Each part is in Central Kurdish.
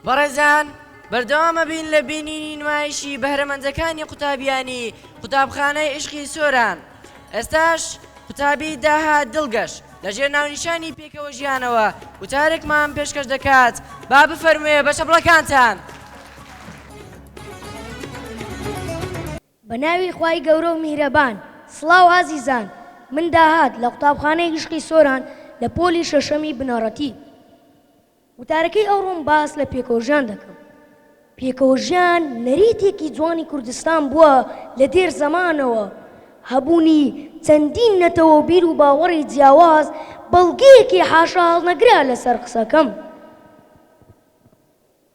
بەڕێزان بەردەوامە بین لە بینینی نمایشی بەهرەمەندەکانی قوتابیانی قوتابخانەی ئیشقی سۆران ئێستاش قوتابی داهات دڵگەش لە ژێر ناونیشانی پێکەوە ژیانەوە وتارێکمان پێشکەش دەکات با بفەرموێ بە چەپڵەکانتان. بە ناوی خوای گەورە و میهرەبان. سڵاو ئازیزان، من داهات لە قوتابخانەی ئیشقی سۆران لە پۆلی شەشەمی بنەڕەتی. وتارەکەی ئەوڕۆم باس لە پێکەوە ژیان دەکەم. پێکەوە ژیان نەریتێکی جوانی کوردستان بووە لە دێر زەمانەوە. هەبوونی چەندین نەتەوە و بیر و باوەڕی جیاواز بەڵگەیەکی حاشاهەڵنەگرە لەسەر قسەکەم.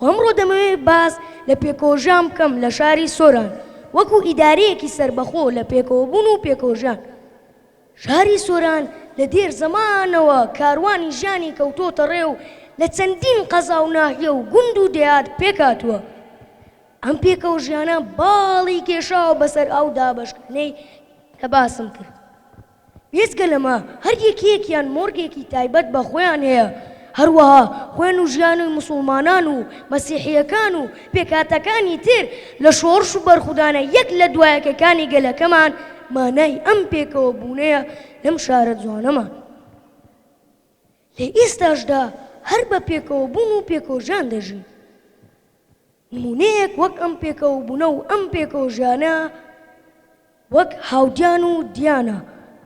و ئەمڕۆ دەمەوێت باس لە پێکەوەژیان بکەم لە شاری سۆران وەکو ئیدارەیەکی سەربەخۆ لە پێکەوەبوون و پێکەوەژیان. شاری سۆران لە دێر زەمانەوە کاروانی ژیانی کەوتۆتە ڕێ و لە چەندین قەزا و ناحیە و گوند و دێهات پێک هاتووە. ئەم پێکەوەژیانە باڵی کێشاوە بەسەر ئەو دابەشکردنەی کە باسم کرد. بێجگە لەمە هەر یەکەیەکیان مۆرگێکی تایبەت بە خۆیان هەیە، هەروەها خوێن و ژیانی موسڵمانان و مەسیحییەکان و پێکهاتەکانی تر لە شۆڕش و بەرخودانە یەک لە دوا یەکەکانی گەلەکەمان مانای ئەم پێکەوە بوونەیە لەم شارە جوانەمان لە ئێستاشدا هەر بە پێکەوە بوون و پێکۆژان دەژین. نموونەیەک وەک ئەم پێکەوەبوونە و ئەم پێکەوەژیانە وەک هاودیان و دیانە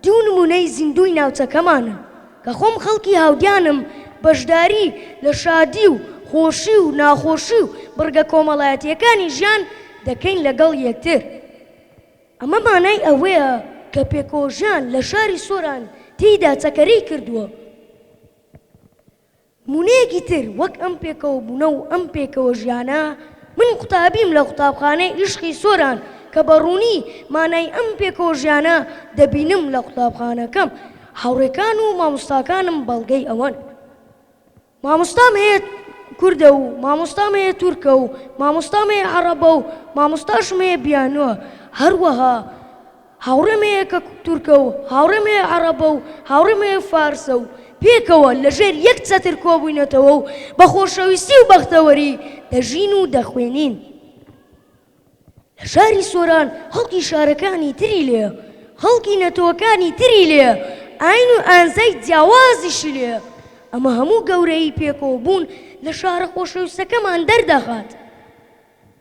دوو نموونەی زیندووی ناوچەکەمانن کە خۆم خەڵکی هاودیانم بەشداری لە شادی و خۆشی و ناخۆشی و بڕگە کۆمەڵایەتییەکانی ژیان دەکەین لەگەڵ یەکتر ئەمە مانای ئەوەیە کە پێکەوەژیان لە شاری سۆران تێیدا چەکەرەی کردووە. نموونەیەکی تر وەک ئەم پێکەوەبوونە و ئەم پێکەوەژیانە، من قوتابیم لە قوتابخانەی ئیشقی سۆران کە بە ڕوونی مانای ئەم پێکەوەژیانە دەبینم لە قوتابخانەکەم، هاوڕێکان و مامۆستاکانم بەڵگەی ئەوەن. مامۆستام هەیە کوردە و مامۆستام هەیە تورکە و مامۆستام هەیە عەڕەبە و مامۆستاشم هەیە بیانووە، هەروەها. هاوڕێ مێیەکە تورکە و هاوڕێ مێیە عەڕەبە و هاوڕێ مێیە فارسە و پێکەوە لە ژێر یەک چەتر کۆبووینەتەوە و بە خۆشەویستی و بەختەوەری دەژین و دەخوێنین. لە شاری سۆران خەڵکی شارەکانی تری لێیە، خەڵکی نەتەوەکانی تری لێیە، ئایین و ئانزای جیاوازیشی لێیە. ئەمە هەموو گەورەیی پێکەوەبوون لە شارە خۆشەویستەکەمان دەردەخات.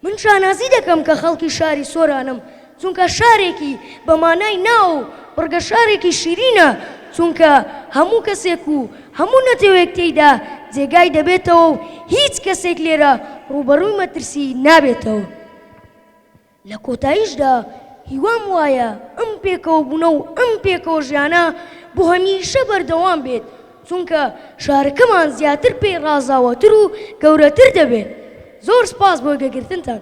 من شانازی دەکەم کە خەڵکی شاری سۆرانم، چونکە شارێکی بە مانای ناو و بڕگە شارێکی شیرینە، چونکە هەموو کەسێک و هەموو نەتەوەیەک تێیدا جێگای دەبێتەوە و هیچ کەسێک لێرە ڕووبەڕووی مەترسی نابێتەوە. لە کۆتاییشدا هیوام وایە ئەم پێکەوەبوونە و ئەم پێکەوەژیانە بۆ هەمیشە بەردەوام بێت، چونکە شارەکەمان زیاتر پێی ڕازاوەتر و گەورەتر دەبێت زۆر سپاس بۆ گوێگرتنتان.